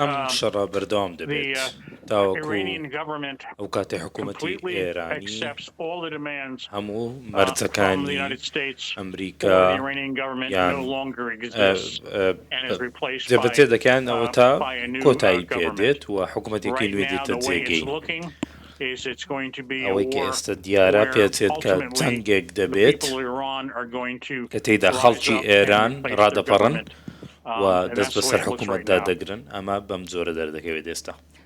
ئەم شەڕە بەردەوام دەبێت تاوەکو ئەو کاتەی حکوومەتی ئێرانی هەموو مەرجەکانی ئەمریکا یان جەبەجێ دەکەن ئەوەتا کۆتایی پێ دێت و حکوومەتێکی نوێ دێتە جێگەی ئەوەی کە ئێستا دیارە پێچێت کە جەنگێک دەبێت کە تێیدا خەڵکی ئێران ڕادەپەڕن و دەست بەسەر حکوومەتدا دەگرن ئەمە بەم جۆرە دەردەکەوێت ئێستا.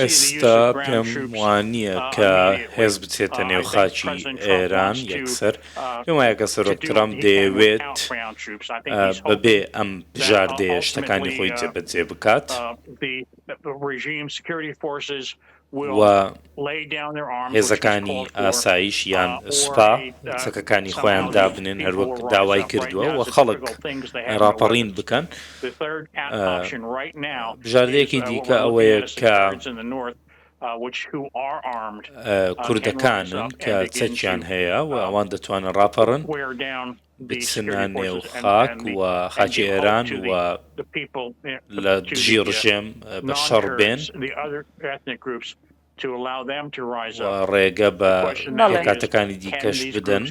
ئێستا پێم وانییە کە هێز بچێتە نێو خاکی ئێران یەکسەر، پێم وایە کە سەرۆک ترەمپ دەیەوێت بەبێ ئەم بژاردەیە شتەکانی خۆی جێبەجێ بکات. و هێزەکانی ئاسایش یان سوپا چەکەکانی خۆیان دابنێن هەروەک داوای کردووە و خەڵک ڕاپەڕین بکەن بژاردەیەکی دیکە ئەوەیە کە کوردەکانن کە چەکیان هەیە و ئەوان دەتوانن ڕاپەڕن بچنە نێو خاک و خاکی ئێران و لە دژی ڕژێم بە شەڕ بێن ڕێگە بە کاتەکانی دیکەش بدەن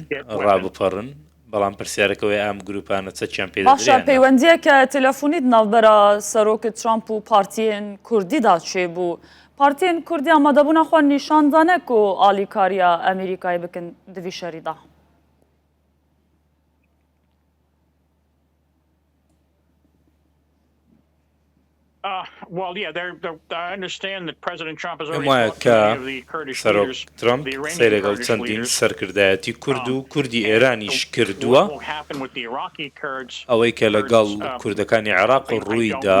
ڕابپەڕن بەڵام پرسیارەکەەوەی ئەم گروپانە چەچیان پێ پەیوەندیە کە تەلەفۆنیت ناوبەرە سەرۆکە ترامپ و پارتیان کوردیدا چێ بوو پارتیان کوردیا مەدەبوونا خۆ نیشاندانەک و ئالیکاریا ئەمریکای بکەن دوی شەریدا. پێم وایە کە سەرۆک ترەمپ قسەی لەگەڵ چەندین سەرکردایەتی کورد و کوردی ئێرانیش کردووە. ئەوەی کە لەگەڵ کوردەکانی عێراق ڕوویدا،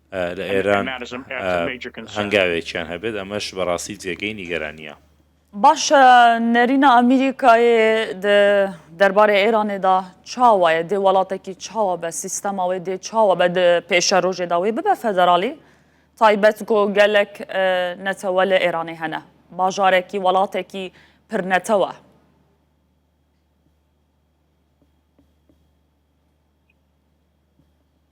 لە ئێران هەنگاوێکیان هەبێت ئەمەش بەڕاستی جێگەی نیگەرانیە. باشە نەرینە ئەمریکایێ دەربارەی ئێرانێدا چاوایە دێ وڵاتێکی چاوە بە سیستەماوێ دێ چاوە بە پێشە ڕۆژێداوی ببە فەدەراڵی تایبەت گۆ گەلک نەتەوە لە ئێرانێ هەنە باژارێکی وڵاتێکی پرنەتەوە.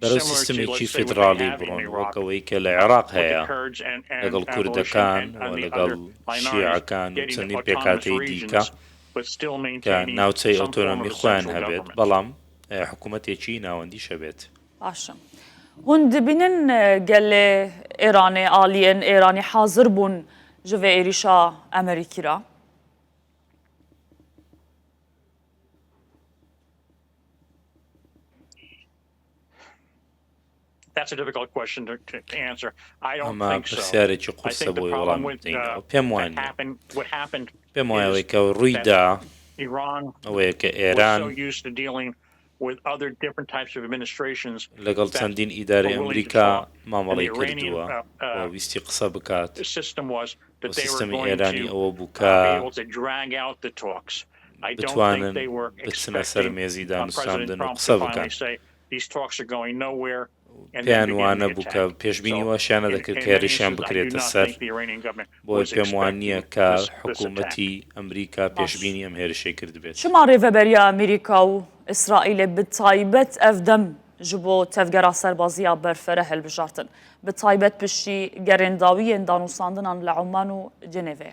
بەرەو سیستمێکی فیدراڵی بڕۆن وەک ئەوەی کە لە عێراق هەیە لەگەڵ کوردەکان و لەگەڵ شیعەکان و چەندین پێکهاتەی دیکە کە ناوچەی ئۆتۆنۆمی خۆیان هەبێت بەڵام حکوومەتێکی ناوەندیش هەبێت. باشە هون دبینن گەلێ ئێرانێ ئالیێن ئێرانی حازر بوون ji vê êrîşa Emerîkî re. ئەمە پرسیارێکی قورسە بۆی وەڵام پێم وان پێم وایەوەی کە ڕوویدا ئەوەیە کە ئێران لەگەڵ چەندین ئیداری ئەمریکا مامەڵی کردووە uh, uh, ویستی قسە بکات سیستمی ئێرانی ئەوە بووکە بتوانن بچنە سەر مێزی دانوستاندن و قسە بکەن. پێیان وانەبوو کە پێشبینی واشیان نەدەکرد کە هێرشیان بکرێتە سەر، بۆیە پێم وا نییە کە حکومەتی ئەمریکا پێشبینی ئەم هێرشەی کردبێت. چما رێڤەبەریە ئەمریکا و ئیسرائیلێ بتایبەت ئەڤ دەم ژ بۆ تەڤگەرا سەربازییە بەرفەرە هەلبژارتن، بتایبەت پشتی گەرێنداوییێن دانوساندنان لە عومان و جنێڤێ.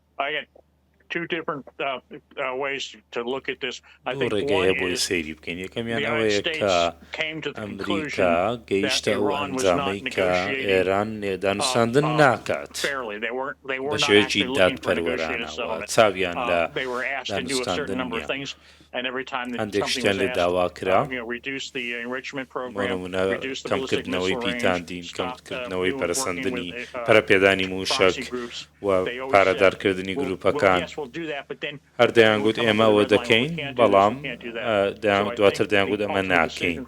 دوو ڕێگە هەیە بۆی سەیری بکەین، یەکەمیان ئەوەیە کە ئەمریکا گەیشتە ئەو ئەنجامەی کە ئێران دانوستاندن ناکات بە شێوەیەکی دادپەروەرانە و چاویان لە دانوستاندن نییە. هەندێک شتیان لێ داوا کرا، بۆ نموونە کەمکردنەوەی پیتاندین، کەمکردنەوەی پەرەسەندنی پەرەپێدانی مووشەک و پارەدارکردنی گرووپەکان. هەر دەیانگوت ئێمە ئەوە دەکەین، بەڵام دواتر دەیانگوت ئەمە ناکەین.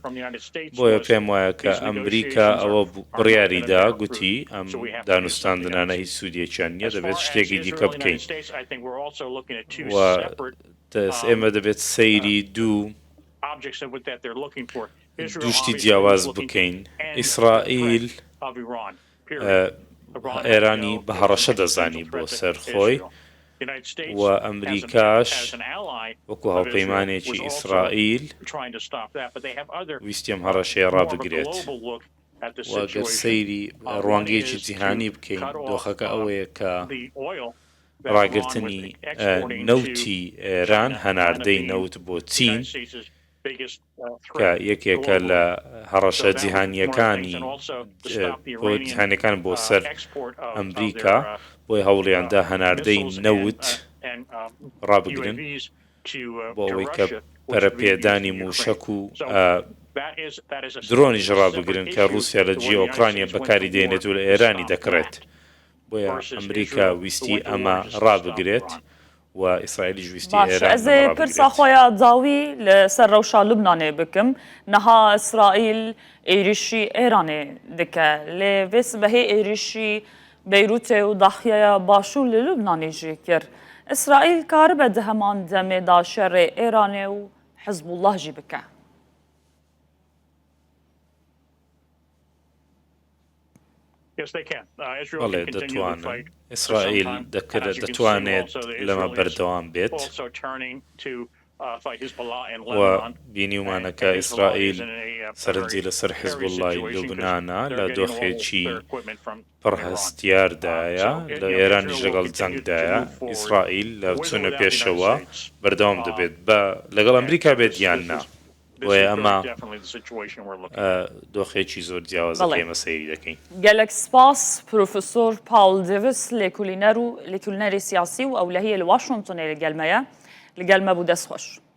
بۆیە پێم وایە کە ئەمریکا ئەوە بڕیاری دا، گوتی ئەم دانوستاندنانە هیچ سوودێکیان نییە، دەبێت شتێکی دیکە بکەین. دەست، ئێمە دەبێت سەیری دوو دوو شتی جیاواز بکەین، ئیسرائیل ئێرانی بە هەڕەشە دەزانی بۆ سەر خۆی و ئەمریکاش وەکو هاوپەیمانێکی ئیسرائیل ویستی ئەم هەڕەشەیە ڕابگرێت و گەر سەیری ڕوانگەیەکی جیهانی بکەین دۆخەکە ئەوەیە کە ڕاگرتنی نەوتی ئێران، هەناردەی نەوت بۆ چین کە یەکێکە لە هەڕەشە جیهانییەکانی بۆ جیهانییەکان بۆ سەر ئەمریکا، بۆیە هەوڵیاندا هەناردەی نەوت ڕابگرن بۆ ئەوەی کە پەرەپێدانی مووشەک و درۆنیش ڕابگرن کە ڕووسیا لە جیۆکرانیا بەکاری دێنێت و لە ئێرانی دەکڕێت. بۆیە ئەمریکا ویستی ئەمە ڕابگرێت و ئیسرائیلیش ویستی ئێران ئەمە ڕابگرێت. باشە ئەزێ پرسا خوەیا زاوی لە سەر رەوشا لوبنانێ بکم، نها ئیسرائیل ئێریشی ئێرانێ دکە، لێ ڤێ سبەهێ ئێریشی بەیروتێ و داخیەیا باشوور لە لوبنانێ ژێ کرد. ئیسرائیل کاربە دە هەمان دەمێ دا شەرێ ئێرانێ و حزبوڵڵاه ژی بکە. بەڵێ دەتوانن. ئیسرائیل دەتوانێت لەمە بەردەوام بێت و بینیومانە کە ئیسرائیل سەرنجی لەسەر حیزبوڵڵای لوبنانە، لە دۆخێکی پڕ هەستیاردایە، لە ئێرانیش لەگەڵ جەنگدایە. ئیسرائیل لە چوونە پێشەوە بەردەوام دەبێت، با لەگەڵ ئەمریکا بێت یان نا. بۆیە ئەمە دۆخێکی زۆر جیاوازە کە ئێمە سەیری دەکەین. گەلەک سپاس پرۆفسۆر پاڵ دێڤس لێکولینەر و لێکولنەری سیاسی و ئەو لە هیە لە واشنتۆنێ لە گەلمەیە لە گەلمە بوو دەست خۆش.